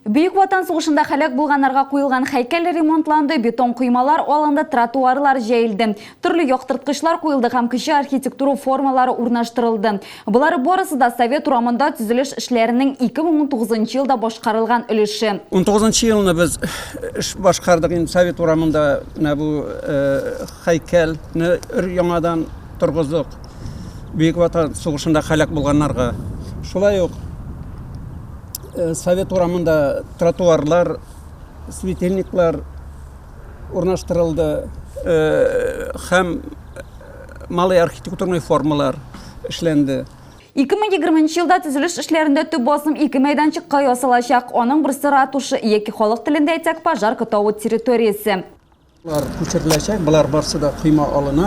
Бөек Ватан сугышында һәлак булганнарга куелган һәйкәл ремонтланды, бетон коймалар алынды, тротуарлар җәелде, төрле яктырткычлар куелды һәм кече архитектура формалары урнаштырылды. Болар барысы да совет урамында төзелеш эшләренең 2019 нчы елда башкарылган өлеше. Унтугызынчы елны без эш башкардык, инде совет урамында менә бу һәйкәлне өр-яңадан торгыздык. Бөек Ватан сугышында һәлак булганнарга. Шулай ук э, Совет урамында тротуарлар, светильниклар урнаштырылды э, һәм э, малый архитектурный формалар эшләнде. 2020 елда төзелеш эшләрендә төп басым ике мәйданчыкка ясалачак. Аның берсе ратуша яки халык телендә әйтсәк пожар котавы территориясе. Болар күчереләчәк, болар барсы да койма алына.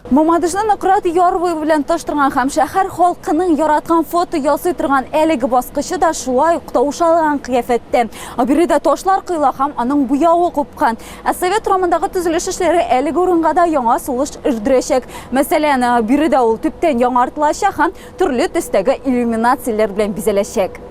Мамадышны Нократ ярвы белән таштырган һәм шәһәр халкының яраткан фото ясый торган әлеге баскычы да шулай ук таушалган кыяфәттә. Аберидә ташлар кыйла һәм аның буявы купкан. Ә совет урамындагы төзелеш эшләре әлеге урынга да яңа сулыш өрдерәчәк. Мәсәлән, биредә ул төптән яңартылачак һәм төрле төстәге иллюминацияләр белән бизәләчәк.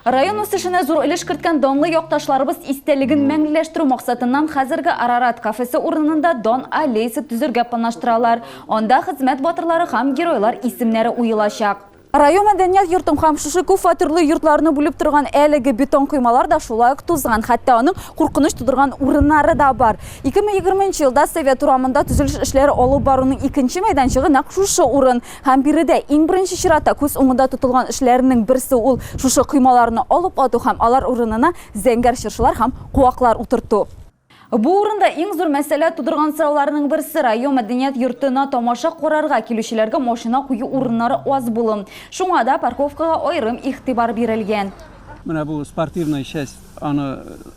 Район үсешенә зур өлеш керткән данлы якташларыбыз истәлеген мәңгеләштерү максатыннан хәзерге Арарат кафесы урынында дан аллеясы төзергә планлаштыралар. Анда хезмәт батырлары һәм геройлар исемнәре уелачак. Район мәдәният йортын һәм шушы күп фатирлы йортларны бүлеп торган әлеге бетон коймалар да шулай ук тузган, хәтта аның куркыныч тудырган урыннары да бар. 2020 нче елда Совет урамында төзелеш эшләре алып баруның икенче мәйданчыгы нәкъ шушы урын. Һәм биредә иң беренче чиратта күз уңында тотылган эшләрнең берсе ул шушы коймаларны алып ату һәм алар урынына зәңгәр чыршылар һәм куаклар утырту. Бу урында иң зур мәсьәлә тудырган сорауларның берсе, район мәдәният йортына тамаша карарга килүчеләргә машина кую урыннары аз булу. Шуңа да парковкага аерым игътибар бирелгән. Менә бу спортивная часть, аны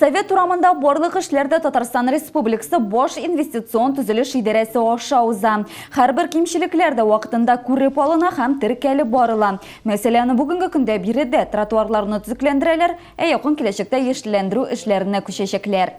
Совет урамында барлык эшләр дә Татарстан Республикасы баш инвестицион төзелеш идарәсе аша уза. Һәрбер кимчелекләр дә вакытында күреп алына һәм теркәлеп барыла. Мәсәлән, бүгенге көндә биредә тротуарларны төзекләндерәләр, ә якын киләчәктә яшелләндерү эшләренә күчәчәкләр.